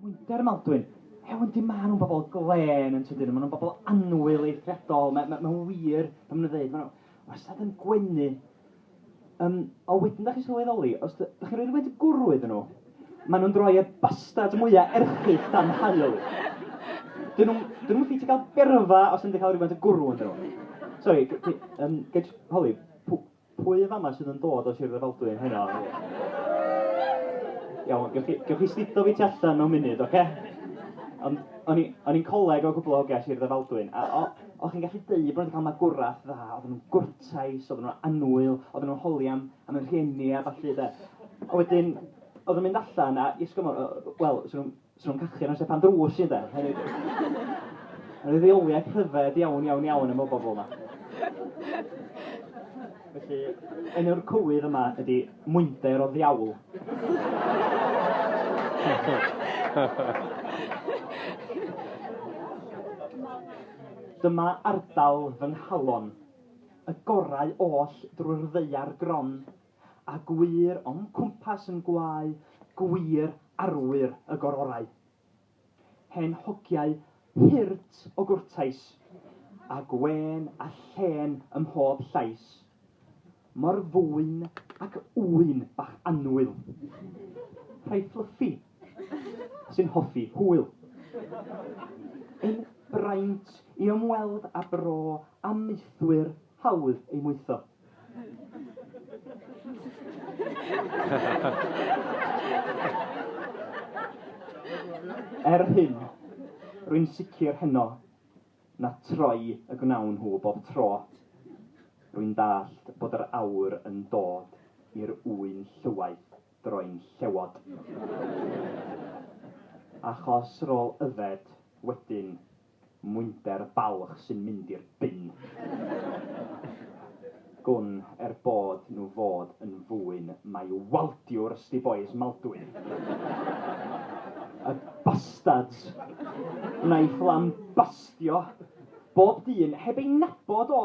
Mwynder y Maldwyn. Ew, yndi, maen nhw'n bobl glên yn tydyn nhw, maen nhw'n bobl annwyl eithriadol, mae, mae, mae wir, pan maen nhw'n dweud, maen nhw wastad yn gwenu. Um, o wedyn, da chi'n sylweddoli, os da, da chi'n rhoi rhywbeth gwrw iddyn nhw, Maen nhw'n droi'r bastards mwya erchyll dan haul. Dyn nhw'm... dyn nhw'm yn ffitio cael berfa os ydyn nhw 'di cael rhywfaint o gwrw ynddyn nhw. Sori, g- g- yym, ga i jyst holi, pw- pwy yn fama sydd yn dod o Sir Drefaldwyn heno? Iawn, gewch chi gewch chi sdido fi tu allan mewn munud, ocê? Ond o'n i o'n i'n coleg o cwpl o hogia Sir Ddrefaldwyn, a o- o'ch chi'n gallu deud bod nhw 'di cael magwraeth dda, oedden nhw'n gwrtais, oedden nhw'n annwyl, oedden nhw'n holi am am y rhieni a ballu de. A wedyn, oedd yn mynd allan a i ysgol, wel, so nhw'n so nhw cachu ar amser pan drws i de. Mae'n rhoi reoliaeth rhyfedd iawn, iawn, iawn am y bobl yma. Felly, enw'r cywydd yma ydy Mwynder o Ddiawl. Dyma ardal fy nghalon. Y gorau oll drwy'r ddaear gron, a gwŷr o'm cwmpas yn gwau, gwŷr arwyr y gororau. Hen hogiau hurt o gwrtais, a gwên a llên ym mhob llais. Mor fwyn ac ŵyn bach annwyl. Rhai fflyffi sy'n hoffi hwyl. Ein braint i ymweld â bro amaethwyr hawdd ei mwytho. Er hyn, rwy'n sicr heno na troi y gwnawn nhw bob tro. Rwy'n dallt bod yr aur yn dod i'r ŵyn llywaeth. droi'n llewod. Achos rôl yfed wedyn mwynder balch sy'n mynd i'r bin. Gwn er bod nhw fod yn fwyn mai waldiwr sti bois Maldwyn. Y bastards! Naiff lambastio bob dyn heb ei nabod o!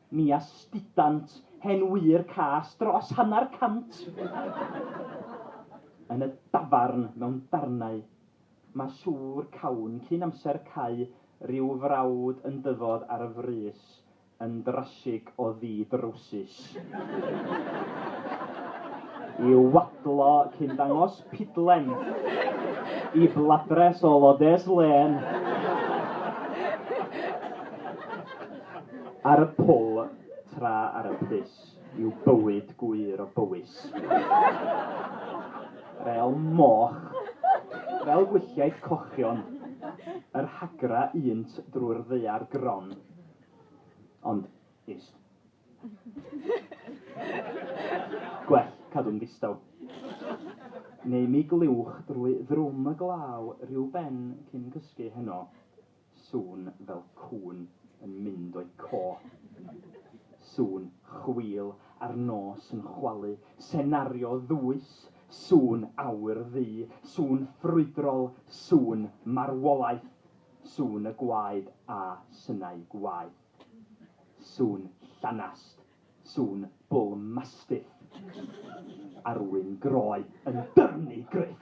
Mi astudant hen wyr cas dros hanner cant yn y dafarn mewn darnau. Mae siŵr cawn cyn amser cau ryw frawd yn dyfod ar y frys yn drasig o ddu drowsus i'w wadlo cyn dangos pidlen i bladres o lodes lên. Ar y pwl tra ar y pris yw bywyd gwŷr o Bowys. Fel moch, fel gwylliaid cochion, yr hagra unt drwy'r ddaear gron. Ond, ist. Gwell cadw'n ddistaw. Neu mi glywch drwy ddrwm y glaw ryw ben cyn cysgu heno, Sŵn fel cŵn yn mynd o'i co. Sŵn chwil ar nos yn chwalu. Senario ddwys, sŵn awyr ddu. Sŵn ffrwydrol, sŵn marwolaeth. Sŵn y gwaed a synau gwaeth. Sŵn llanast, Sŵn bull mastiff. Arwyn groe yn dyrnu gruff.